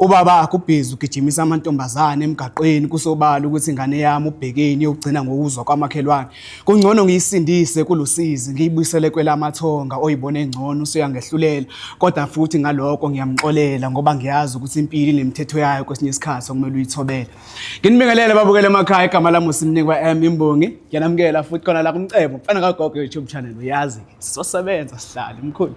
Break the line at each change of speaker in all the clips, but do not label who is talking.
Ubaba akho ubhizi ugijimisa amantombazane emgaqweni kusobala ukuthi ingane yami ubhekeni yokugcina ngokuzwa kwamakhelwane. Kungcono ngiyisindise kulusizi ngiyibuyisele kwelamathonga oyibona engcono usuyangehlulela kodwa futhi ngaloko ngiyamxolela ngoba ngiyazi ukuthi impilo inemithetho yayo kwesinye isikhathi okumele uyithobele. Nginibingelele babukele emakhaya igama lami uSinikwa M Imbongi. Ngiyanamukela futhi khona la kumcebo mfana kagogo YouTube channel uyazi sizosebenza sihlale mkhulu.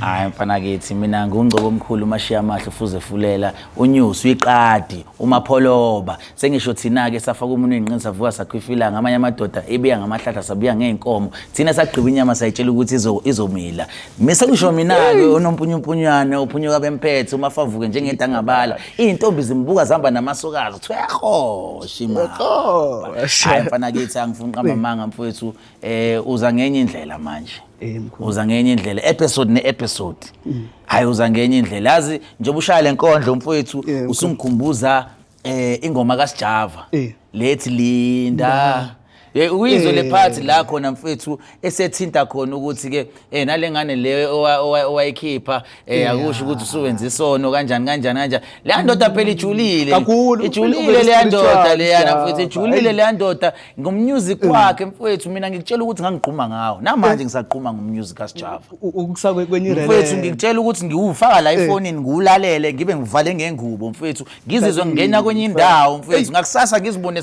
hayi mfana kithi mina ngungcobo omkhulu umashiya amahle ufuze fulela unyusi uyiqadi umapholoba sengisho thina-ke safaka umuntu oyinqini savuka sakhwifilanga amanye amadoda ebiya ngamahlahla sabuya ngey'nkomo thina sagqiba inyama sayitshela ukuthi izomila mi sengisho mina-ke onompunyumpunywane ophunyuka bemphethe uma favuke njengedangabala iy'ntombi zimbuka zihamba namasokazi kuthiwa yahosha imali hayi mfana kithi angifuni qamba manga mfowethu eh uza ngenye indlela manje eh, uza ngenye indlela episode ne episode mm. hayi uza ngenye indlela yazi njengoba ushaya lenkondlo umfowethu eh, usungikhumbuza eh ingoma kaSjava eh. lethi Linda uyizwe lephathi la khona mfethu esethinta khona ukuthi ke eh nalengane le owayikhipha eh akusho ukuthi usuwenza isono kanjani kanjani kanjani le ndoda phela ijulile ijulile le ndoda leyana futhi ijulile le ndoda ngommusic mm. wakhe mfowethu mina ngikutshela ukuthi ngangigquma ngawo namanje eh. ngisagquma ngommusic kaSjava ukusakwe kwenye rele
mfowethu ngikutshela ukuthi
ngiwufaka la ifonini eh. ngiwulalele ngibe ngivale ngengubo mfowethu ngizizwe ngingena kwenye indawo mfowethu ngakusasa ngizibone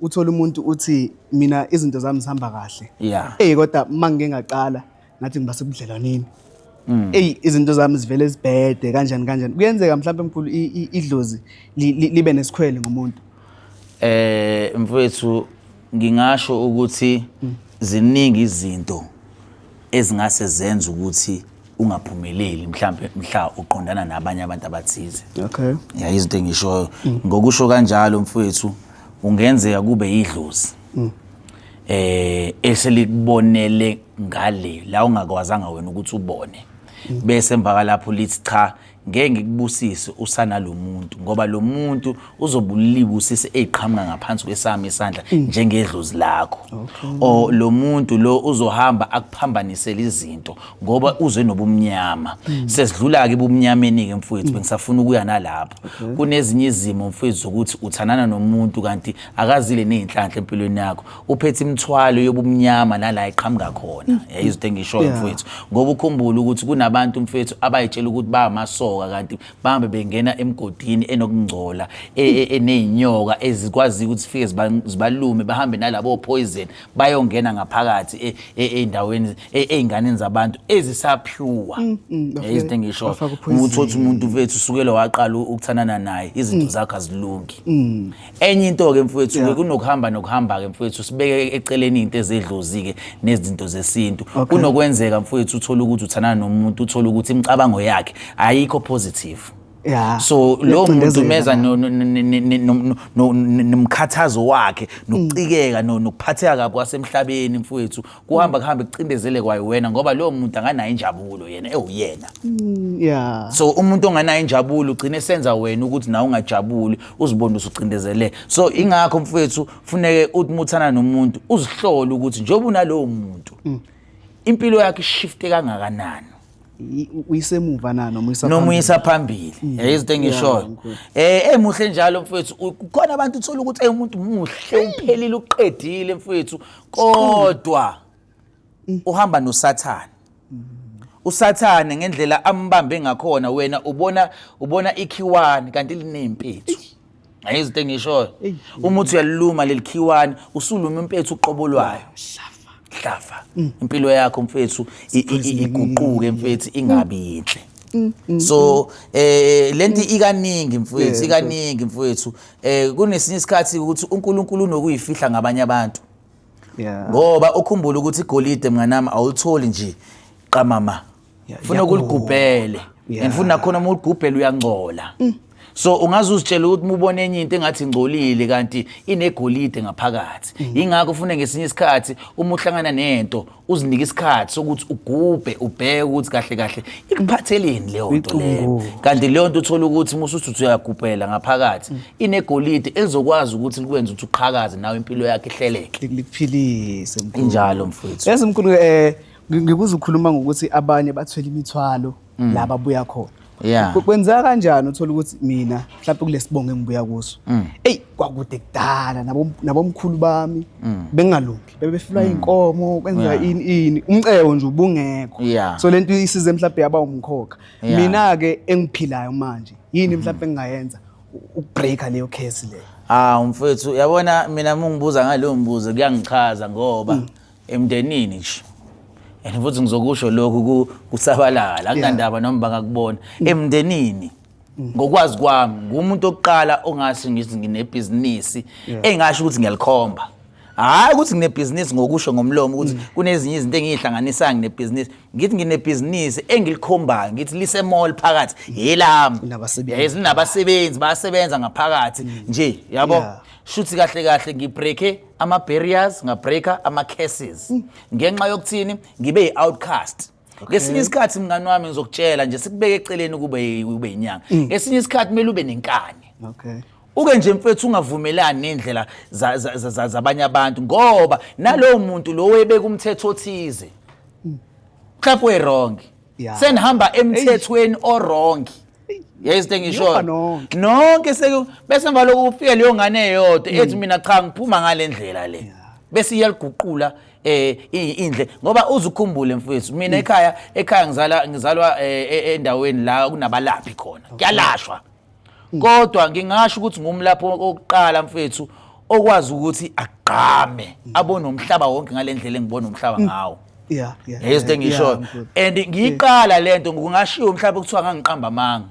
uthole umuntu uthi mina izinto zami zihamba kahle yeah eyi kodwa uma ngike ngaqala ngathi ngiba sebudlelwaneni mm. eyi izinto zami zivele zibhede kanjani kanjani kuyenzeka mhlawumbe mkhulu idlozi libe nesikhwele ngomuntu eh mfowethu
ngingasho ukuthi mm. ziningi izinto ezingase zenze ukuthi ungaphumeleli mhlambe mhla uqondana nabanye abantu abathize okay yeah izinto engishoyo mm. ngokusho kanjalo mfowethu ungenzeka kube yidlozi mm. eh eselikubonele ngale la ungakwazanga wena ukuthi ubone mm. bese emva kwalapho lithi cha Ngeke ngikubusise usana lo muntu ngoba lo muntu uzobuliwa usisi eziqhamuka ngaphansi kwesami isandla mm. njengedlozi lakho o lo muntu lo uzohamba akuphambanisele izinto ngoba mm. uze nobumnyama mm. sesidlula-ke ebumnyameni-ke mfowethu bengisafuna ukuya nalapho kunezinye izimo mfowethu zokuthi uthanana nomuntu kanti akazile ney'nhlanhla empilweni yakho uphethe imithwalo yobumnyama nala iqhamuka khona mm. yayizothi engishoyo mfowethu ngoba ukhumbula ukuthi kunabantu mfowethu abayitshela ukuthi bangamasoka kanti bahambe bengena emgodini enokungcola e, e, eneyinyoka ezikwazi ukuthi zifike zibalume bahambe nalabo poison bayongena ngaphakathi e, endaweni ezinganeni zabantu ezisapure mm, mm, yayizothi engishoyo ukuthi umuntu mfowethu usukele waqala ukuthanana naye izinto zakhe azilungi enye into-ke mfowethu-ke yeah. kunokuhamba nokuhamba-ke mfowethu sibeke eceleni into ezedlozi-ke nezinto zesintu okay. kunokwenzeka mfowethu uthole ukuthi uthanana nomuntu uthole ukuthi imicabango yakhe ayikho positive Yeah. so lo muntu meza nomkhathazo wakhe nokucikeka nokuphatheka kwasemhlabeni mfowethu kuhamba kuhambe kucindezele kwayo wena ngoba lowo muntu anganayo injabulo yena ewuyena mm, yeah so umuntu onganayo injabulo ugcina esenza wena ukuthi nawe ungajabuli uzibone usucindezele so ingakho mfowethu funeke uthi muthana nomuntu uzihlole ukuthi njengoba unalowo muntu mm. impilo yakhe ishifte kangakanani i- u-
uyisemuva na noma uyisa noma uyisa
phambili Mm. Yeah, izinto engishoyo yeah, ngikho. eh eh muhle njalo mfethu U- kukhona abantu uthola ukuthi eh umuntu muhle uphelile uqedile mfethu kodwa Mm. uhamba nosathane usathane ngendlela ambambe ngakhona wena ubona ubona ikhiwani kanti linempethu Hayi izinto engishoyo. Uma uthi uyaliluma lelikhiwani, usuluma impethu uqobo lwayo. Hlafa. Impilo yakho mfethu i- i- i- iguquke mfethu ingabi yinhle. So eh lento ikaningi mfethu ikaningi mfethu eh kunesinye isikhathi ukuthi uNkulunkulu unokuyifihla ngabanye abantu Yeah. ngoba ukhumbule ukuthi igolide mnganami awulitholi nje qamama funa ukuligubhele and futhi nakhona uma uligubhele uyangcola mm. so ungaze uzitshele ukuthi mubona enye into engathi ingcolile kanti inegolide ngaphakathi mm. yingakho ufune ngesinye isikhathi uma uhlangana nento uzinike isikhathi sokuthi ugubhe ubheke ukuthi kahle kahle ikuphatheleni leyo nto leyo kanti leyo nto uthola ukuthi musuthi uthi uyagubhela ngaphakathi mm. inegolide elizokwazi ukuthi likwenze ukuthi uqhakaze nawe impilo yakhe ihleleke likuphilise
injalo mfowethu esimkhulu
eh
ngikuze ukhuluma ngokuthi abanye bathwele imithwalo mm. la babuya khona yeah kwenzeka kanjani uthola ukuthi mina mhlawumbe kulesibongo engibuya kuso mm. eyi kwakude kudala nabomkhulu bami mm. bengalungi bebefilwa mm. inkomo kwenzeka ini ini umcebo nje ubungekho so lento isize mhlawumbe yaba umkhokha mina ke engiphilayo manje yini mm-hmm. mhlawumbe engingayenza ukubreaka leyo case leyo ah umfethu yabona
mina mungibuza ngaleyo mbuzo kuyangichaza ngoba emndenini nje and futhi ngizokusho lokhu ku- kusabalala akunandaba noma bangakubona emndenini ngokwazi kwami ngumuntu okuqala ongase ngithi nginebhizinisi engasho ukuthi ngiyalikhomba hhayi ukuthi nginebhizinisi ngokusho ngomlomo ukuthi kunezinye izinto engiyihlanganisayo nginebhizinisi ngithi nginebhizinisi engilikhombayo ngithi lisemall phakathi yelami Nabasebenzi. Yes, linabasebenzi bayasebenza ngaphakathi nje yabo Yeah. shuthi kahle kahle ngibreake ama-barriers ngabreaker ama-cases mm. ngenxa yokuthini ngibe yi-outcast ngesinye isikhathi mngani wami ngizokutshela nje sikubeke eceleni kube ube inyanga mm. ngesinye isikhathi kumele ube nenkani okay uke nje mfethu ungavumelani nendlela zabanye abantu ngoba nalowo muntu lo webeka umthetho othize mhlawumbe mm. wrong Yeah. senihamba emthethweni owrong yezinto engishoyo Niyofa nonke. nonke seku- bese emva loku kufike leyo ngane eyodwa ethi mina cha ngiphuma ngale ndlela le bese iyaliguqula eh i- indle ngoba uzukhumbule mfowethu mina ekhaya ekhaya ngizala ngizalwa eh, e- endaweni la kunabalaphi khona kuyalashwa kodwa ngingasho ukuthi ngumlapho okuqala mfethu okwazi ukuthi agqame abone umhlaba wonke ngalendlela engibona umhlaba ngawo yeah yeah yezinto engishoyo and ngiyiqala lento ngingashiyo mhlawumbe kuthiwa ngangiqamba amanga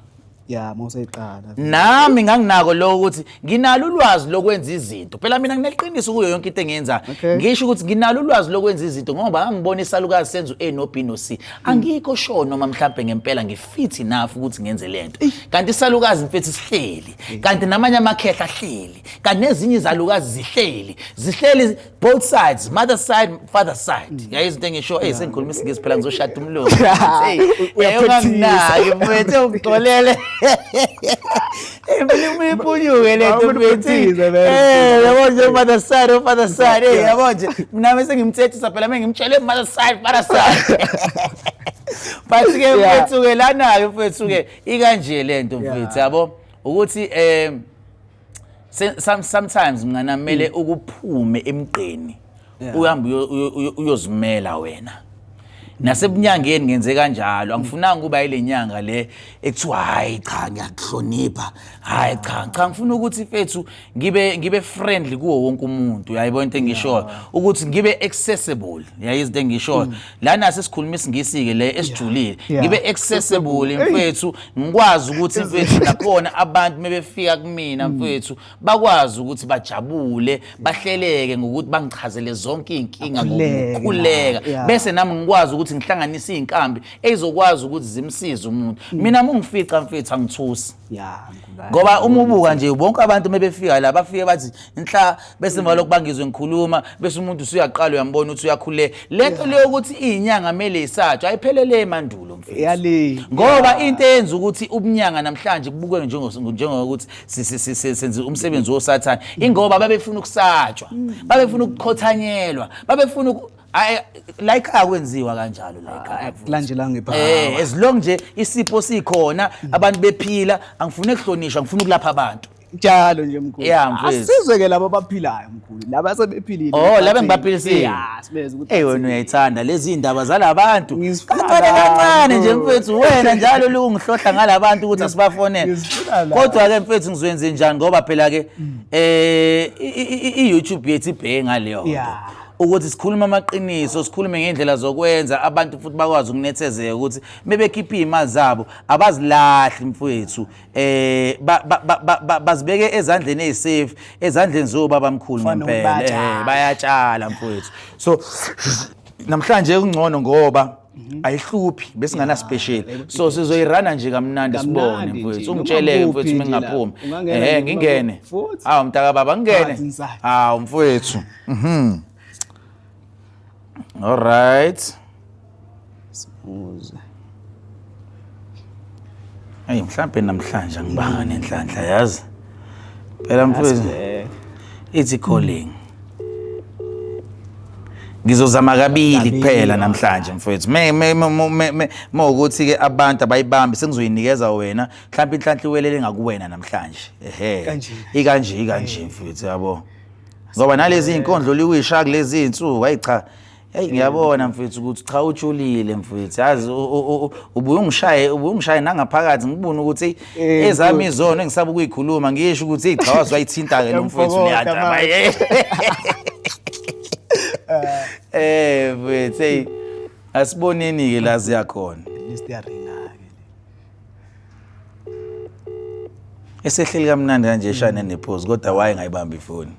ya mawuseyiqala
nami
nganginako lokho ukuthi nginalo ulwazi lokwenza izinto phela mina ngineqiniso kuyo yonke into engiyenzayo ngisho ukuthi nginalo ulwazi lokwenza izinto ngoba ngangibona isalukazi senza u-a no b no c angikho sure noma mhlawumbe ngempela ngif fit enough ukuthi ngenze lento kanti isalukazi mfethu sihleli kanti namanye amakhehla ahleli kanti nezinye izalukazi zihleli zihleli both sides mother side father side mm. yayi izinto engisho hey sengikhuluma isingisi phela ngizoshada umlungu hey uyaphethisayo mfethu ungixolele Mimi punyuke le nto mfethu. Eh, yabo nje mother side, oh, mother side. Eh, yabo nje. Mina bese ngimthethisa phela mina ngimtshele mother side, mother side. But ke mfethu ke lana ke mfethu ke ikanje le nto mfethu yabo ukuthi eh sometimes mngana kumele mm. ukuphume emgqeni uhambe uyo- uyo- uyo- uyozimela wena nasebunyangeni ngenze kanjalo angifunanga ukuba ile nyanga le ekuthiwa hhayi cha ngiyakuhlonipha hhayi cha cha ngifuna ukuthi fethu ngibe ngibe friendly kuwo wonke umuntu yayibona into engishoyo ukuthi ngibe accessible yayi izinto engishoyo lana sesikhuluma isingisi-ke le esijulile Mm. Yeah. ngibe accessible mfethu ngikwazi ukuthi mfethu nakhona abantu mebefika kumina mfethu bakwazi ukuthi bajabule bahleleke ngokuthi bangichazele zonke iy'nkinga Akhuleke, ngokukhuleka yeah. bese nami ngikwazi ukuthi ngihlanganise iy'nkambi ey'zokwazi ukuthi zimsize umuntu mina mungifica mfethu angithusi ya ngubani. ngoba uma ubuka nje bonke abantu uma befika la bafike bathi inhla bese emva lokhu bangizwe ngikhuluma bese umuntu usuyaqala uyambona ukuthi uyakhuleka le nto leyo ukuthi iy'nyanga kumele isatshwa ayiphelele emandulo mfethu yale ngoba into eyenza ukuthi ubunyanga namhlanje kubukwe njengo- njengokuthi senza umsebenzi wosathane ingoba babefuna ukusatshwa mm. babefuna ukukhothanyelwa babefuna like akwenziwa kanjalo like kulandelanga ngepha
eh as long nje
isipho sikhona abantu bephila angifuni ukuhlonishwa ngifuna ukulapha abantu njalo nje mkhulu
asizwe ke labo abaphilayo mkhulu laba sebephilile oh laba ngibaphilisile
yeah sibeze ukuthi hey
wena uyayithanda lezi
indaba zalabantu kancane kancane nje mfethu wena njalo lungihlohla ngalabantu ukuthi asibafonele kodwa ke mfethu ngizwenze njani ngoba phela ke mm. eh i YouTube yethu ibheke ngaleyo yeah ukuthi sikhulume amaqiniso sikhulume ngendlela zokwenza abantu futhi bakwazi ukunethezeka ukuthi mebekhipha iy'mali zabo abazilahli mfowethu eh bazibeke ezandleni ezisafe ezandleni zobaba mkhulu ngempela eh, bayatshala mfowethu so namhlanje kungcono ngoba Mhm. ayihluphi besingana special so sizoyirana nje kamnandi sibone mfowethu ungitsheleke mfowethu uma ngingaphumi ehe ngingene hawu mntaka baba ngingene hawu mfowethu mhm All right. Sibuze. Hey mhlambe namhlanje angibanga nenhlanhla yazi. Phela mfowethu ithi calling. Ngizozama kabili kuphela namhlanje mfowethu. Me me me me ukuthi ke abantu abayibambi sengizoyinikeza wena. Mhlawumbe inhlanhla iwelele ngakuwena namhlanje. Ehhe. Ikanje ikanje mfowethu yabo. ngoba nalezi inkondlo liwisha kulezi insuku hayi cha Hey ngiyabona mfethu ukuthi cha ujulile mfethu yazi ubuye ungishaye ubuye ungishaye nangaphakathi ngibone ukuthi eh, ezami izono engisaba ukuyikhuluma ngisho ukuthi cha wazwayithinta ke lo mfethu liyadaba eh, eh mfethu hey asiboneni ke la ziyakhona esehleli kamnandi kanje shane nephozi kodwa waye ngayibamba ifoni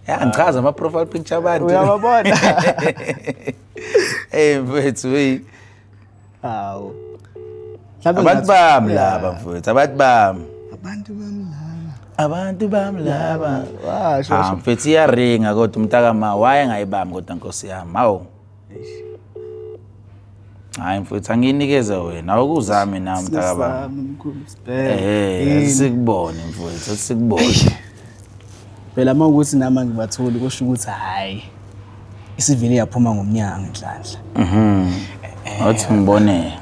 ya ngichaza ama-profile picture abantu uyababona ey mfethu wey hawu
Mhlawumbe
abantu ngathi- bami Yeah. laba mfethu abantu bami abantu bami laba abantu bami laba Washo, Ah, washo. mfethu iyaringa kodwa umntakama waye ngayibami kodwa nkosi yami hawu hayi mfowethu angiyinikeze wena awukuzami na mntaka baba eh sikubone mfowethu sikubone
phela uma ukuthi nama ngibatholi kusho ukuthi hayi isivile yaphuma ngomnyango inhlanhla mhm wathi
eh, ngibone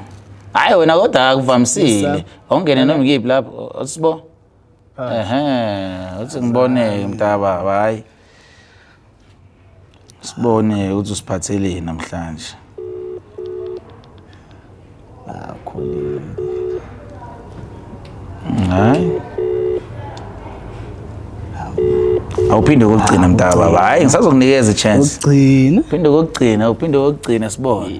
hayi wena kodwa akuvamisile awungene noma ngiyiphi lapho sibo ehe uthi ngiboneke mntaba hayi sibone ukuthi usiphatheleni namhlanje
akhulile hayi
awuphinde kokugcina mntaba hayi ngisazokunikeza i-chance ugcina phinde
kokugcina uphinde
kokugcina sibone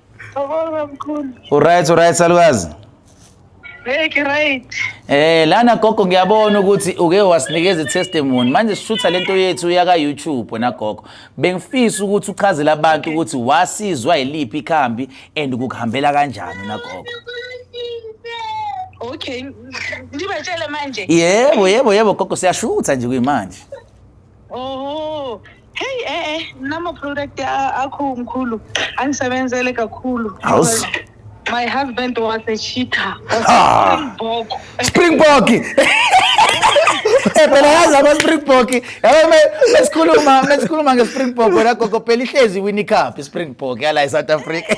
Thokoza mkhulu. Uright uright salukazi.
Hey
ke right. Eh
lana gogo ngiyabona ukuthi uke wasinikeza testimony. Manje sishutha lento yethu yaka YouTube wena gogo. Bengifisa ukuthi uchazele abantu ukuthi wasizwa yiliphi ikhambi and kukuhambela kanjani na gogo.
Okay. Ndibatshele manje. Yebo yebo yebo
gogo siyashutha nje kuyimanje. Oh.
Hey eh eh nama product akho mkhulu angisebenzele kakhulu. Awus My husband was a cheater. Ah.
Springbok. Eh phela yazi ama Springbok. Yabo me esikhuluma ngesikhuluma ngeSpringbok wena gogo phela ihlezi wini cup iSpringbok yala eSouth Africa.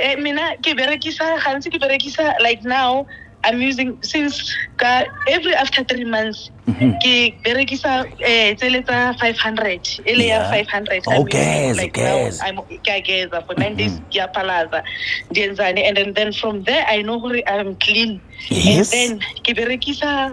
Eh,
mina ke berekisa gantsi ke berekisa like now i'm using since ka every after three months Mhm. ke berekisa eh tsele tsa 500 e le ya Yeah. 500 Oh, I'm using, geza, like,
now, geza. I'm-
ke a geza for nine days ke a phalaza ndi enzane and then, then from there i know gore i'm clean Yes. and then
ke berekisa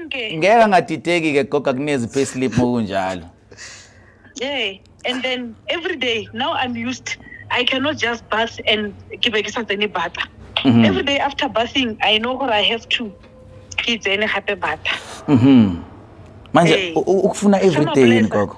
konke ngeke angadideki ke goga kunezi payslip mokunjalo yeah
and then every day now i'm used i cannot just bath and ke be ke sa tsene bata Mhm. every day after bathing i know gore i have to ke tsene gape bata mhm
manje Ee. u- u- ukufuna everyday yini Sama-blesser. gogo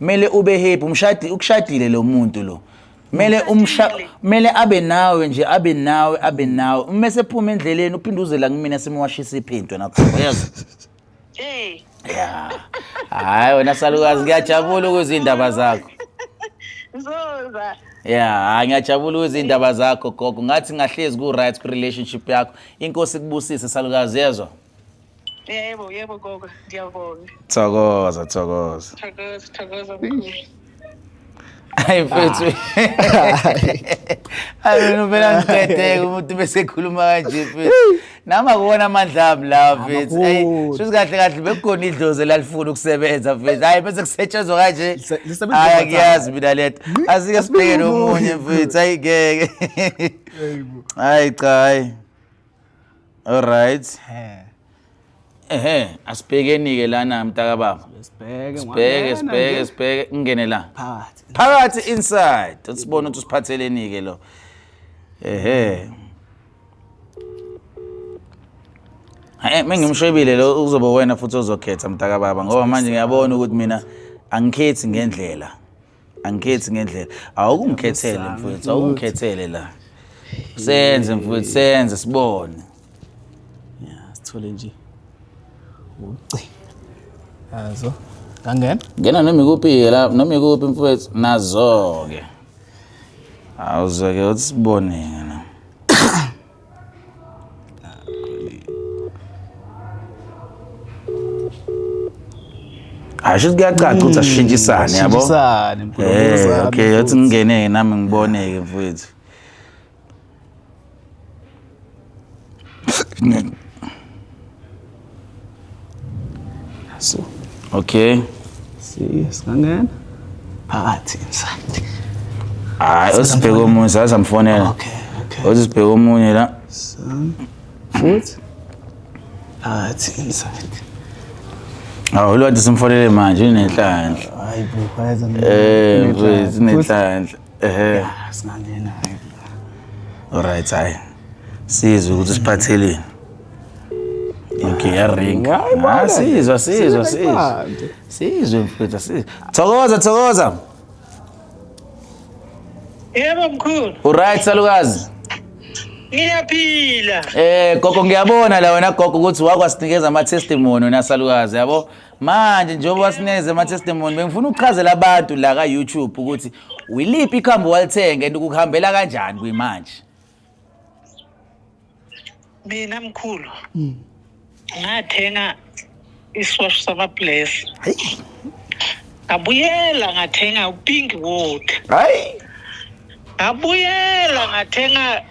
mele ube happy umshadi ukushadile lo muntu lo mele umsha mele abe nawe nje abe nawe abe nawe uma sephuma endleleni uphinde uzela kumina simwashisa iphintwe nakho uyazi Eh. ya hayi wena salukazi ngiyajabula ukuzwa iy'ndaba zakho Ngizoza.
ya hayi
ngiyajabula ukuzwa iy'ndaba zakho gogo ngathi ngahlezi ku-right kwi-relationship yakho inkosi kubusise salukazi yezwa Yebo,
yebo gogo, ngiyabonga. Thokoza, thokoza.
Thokoza, thokoza
mkhulu.
Hayi mfethu. Hayi mina phela ngidedeke umuntu bese ekhuluma kanje mfethu. Nami akuwona amandla ami lawa mfethu. Hayi Amakhulu. shuthi kahle kahle bekugona idlozi elalifuna ukusebenza mfethu. Hayi bese kusetshenzwa kanje. Lise- lisebenza Hayi overtime. ngiyazi mina lento. Asike sibheke Asikhulumi nomunye mfethu. Hayi ngeke. Hayi cha hayi. Alright. Eh. Ehhe, asibhekeni-ke lana mntakababa. Sibheke Sibheke, ngwangena sibheke, nje. sibheke. Ngingene la. Phakathi. Phakathi inside. Sibone ukuthi usiphatheleni-ke lo. Ehhe. Hayi, mengimshwebile lo uzobe wena futhi ozokhetha mntakababa ngoba manje ngiyabona ukuthi mina angikhethi ngendlela. angikhethi ngendlela awukungikhethele mfowethu awukungikhethele la senze mfowethu senze sibone
ya sithole nje ucingo yazo ngangena ngena noma ikuphi
la noma ikuphi mfowethu nazo-ke awuzoke uthi sibone-ke hayi sho kuyacaca ukuthi asishintshisane yabo Shintshisane, mkhulu, Eh,
uzame okay yathi futhi. ngingene
nami ngiboneke mfowethu
So, Okay.
si-
singangena. Phakathi inside.
Hayi usibheke omunye saza mfonela. Okay, okay.
Usibheke omunye la.
So,
futhi. Phakathi inside.
Awu lwathi simfonele manje unenhlanhla. Hayi bro, kwayeza
mina. Eh, Unenhlanhla. mfethu Futhi,
unenhlanhla. Ehhe. ah, Singangena. hayi. Alright hayi. Sizwe ukuthi siphatheleni. Ngiyaring. Ah sizwa sizwa sizwa. Sizwe mfethu sizwe. Thokoza thokoza.
Yebo mkhulu. Uright salukazi.
Ngiyaphila.
Eh gogo ngiyabona
la wena gogo ukuthi wakwasinikeza ama testimony wena salukazi yabo. Manje njengoba wasinikeza ama testimony bengifuna ukuchazela abantu la ka YouTube ukuthi wiliphi ikhambi walithenga and ukuhambela kanjani kuyimanje.
mina mkhulu mm. ngathenga isiwash samabless ngabuyela ngathenga upink wood hayi
ngabuyela
ngathenga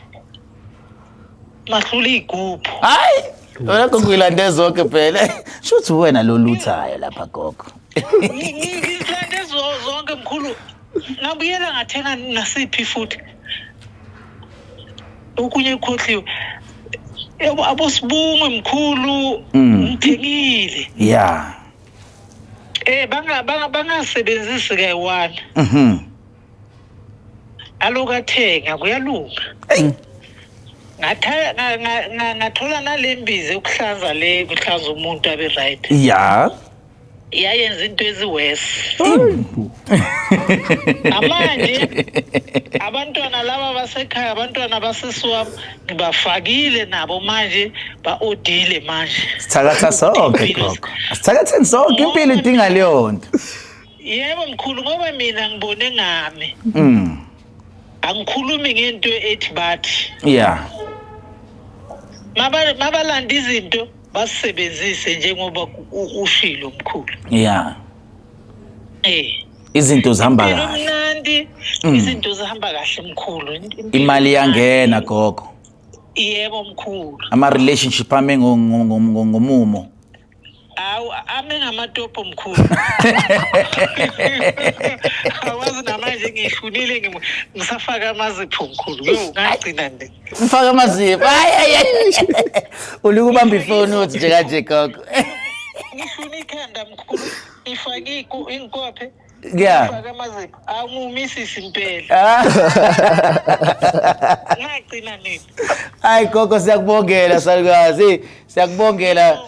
mahlula iy'gubhu hayi
wena kungilande zonke phela sho ukuthi uwena loluthayo lapha gogo
ngilande zonke mkhulu ngabuyela ngathenga nasiphi futhi okunye kukhohliwe yebo abosibungu mkhulu Mm. ngithengile ya eh banga banga bangasebenzisi ke wani mhm
alokathenga kuyalunga Eyi. Ngatha- nga- nga- nga- ngathola nalembizi yokuhlanza le kuhlaza umuntu abe right ya
yayenza
into eziworse namanje abantwana laba basekhaya abantwana basisi wami ngibafakile nabo manje ba-odile manje sithakatha sonke
gogo sithakatheni sonke impilo idinga leyo nto yebo
mkhulu ngoba mina ngibone ngami mm. angikhulumi ngento ethi bathi
yeah
mabalanda izinto basebenzise njengoba ushilo mkhulu yeah
eh izinto zihamba kahle mnandi
mm. izinto zihamba kahle mkhulu imali iyangena
gogo yebo
mkhulu ama relationship
ame ngomumo
awu ame ngamatopo mkhulu awazi namanje ngihlulile ngisafaka amazipho mkhulu yo ngagcina nje Mfaka amazipho.
Hayi hayi. hayi. Uluku bamba ifoni uthi nje kanje gogo. ngifuna
ikhanda mkhulu ifake iku- inkophe Yeah. ifake
amazipho
awumumisisi mpela Ah. ngagcina nini Hayi gogo
siyakubongela salukazi. Siyakubongela.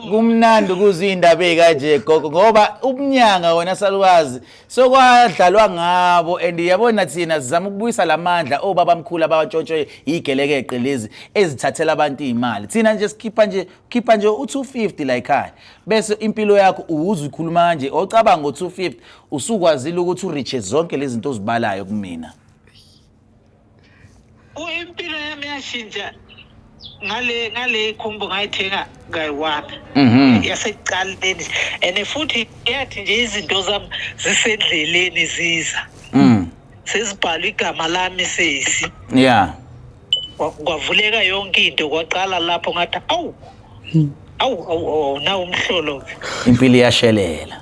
Kumnandi ukuzwa indaba ekanje gogo ngoba ubunyanga wena salukazi so kwadlalwa ngabo and yabona thina sizama ukubuyisa la mandla obaba mkhulu abawantshontshwe yigelekeqe lezi ezithathela abantu iy'mali thina nje sikhipha nje khipha nje u-250 la yikhaya bese impilo yakho uwuze ukhuluma kanje ocabanga ngo-250 usukwazile ukuthi uriche zonke lezi zinto ozibalayo kumina
impilo yami yashintsha ngale ngale khumbo ngayithenga kayi-one mhm. yasekuqaleni and futhi yathi nje izinto zami zisendleleni ziza mm. sezibhalwe igama lami sesi ya kwavuleka yonke into kwaqala lapho ngathi awu awu awu nawu umhlolo impilo
iyashelela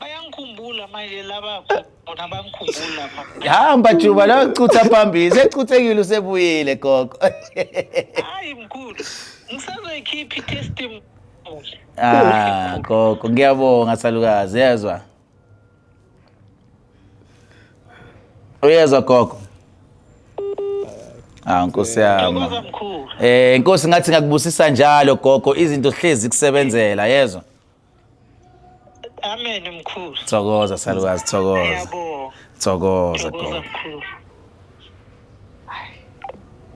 bayangikhumbula manje labakho bona bangikhumbula hamba juba
la ucutha phambili secuthekile usebuyile gogo hayi
mkhulu ngisazoyikhipha i-testimony ah
gogo ngiyabonga salukazi yezwa uyezwa gogo Ah nkosi yami. Eh nkosi ngathi ngakubusisa njalo gogo izinto hlezi kusebenzela yezwa. Amen
mkhulu. Thokoza salukazi
thokoza. Yebo.
Thokoza
Thokoza gogo. mkhulu.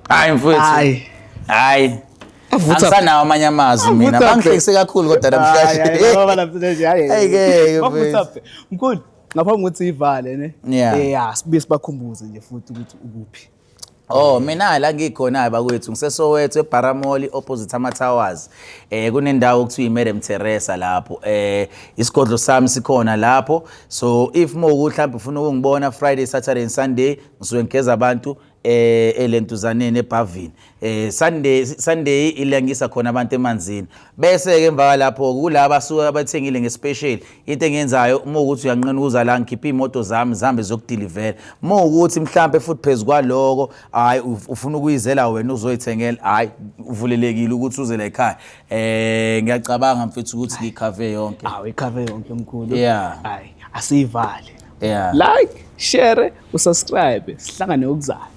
Hayi mfowethu. Hayi. Hayi. Avutha. Angisanawo amanye amazwi mina. Avutha. Bangihlekise kakhulu kodwa namhlanje.
Ayike,
mfethu. mkhulu
ngaphambi kokuthi ivale ne Yeah. Eh, ya sibuye sibakhumbuze nje futhi ukuthi ukuphi Oh mina
la ngikhona bakwethu ngisesowethu eBaramoli opposite ama Towers eh kunendawo okuthiwa iMadam Teresa lapho eh isigodlo sami sikhona lapho so if moku mhlawumbe ufuna ukungibona Friday Saturday and Sunday ngisuke ngigeza abantu eh elentuzaneni ebhavini eh Sunday Sunday ilangisa khona abantu emanzini bese ke emva kwalapho kulaba suka abathengile ngespecial into engenzayo uma ukuthi uyanqina ukuza la ngikhipha imoto zami zihambe zokudeliver uma ukuthi mhlambe futhi phezulu kwaloko hayi ufuna ukuyizela wena uzoyithengela hayi uvulelekile ukuthi uze la ekhaya eh ngiyacabanga mfethu ukuthi ngikhave yonke awu ikhave yonke mkhulu
yeah hayi
asiyivale
yeah like share usubscribe sihlangane okuzayo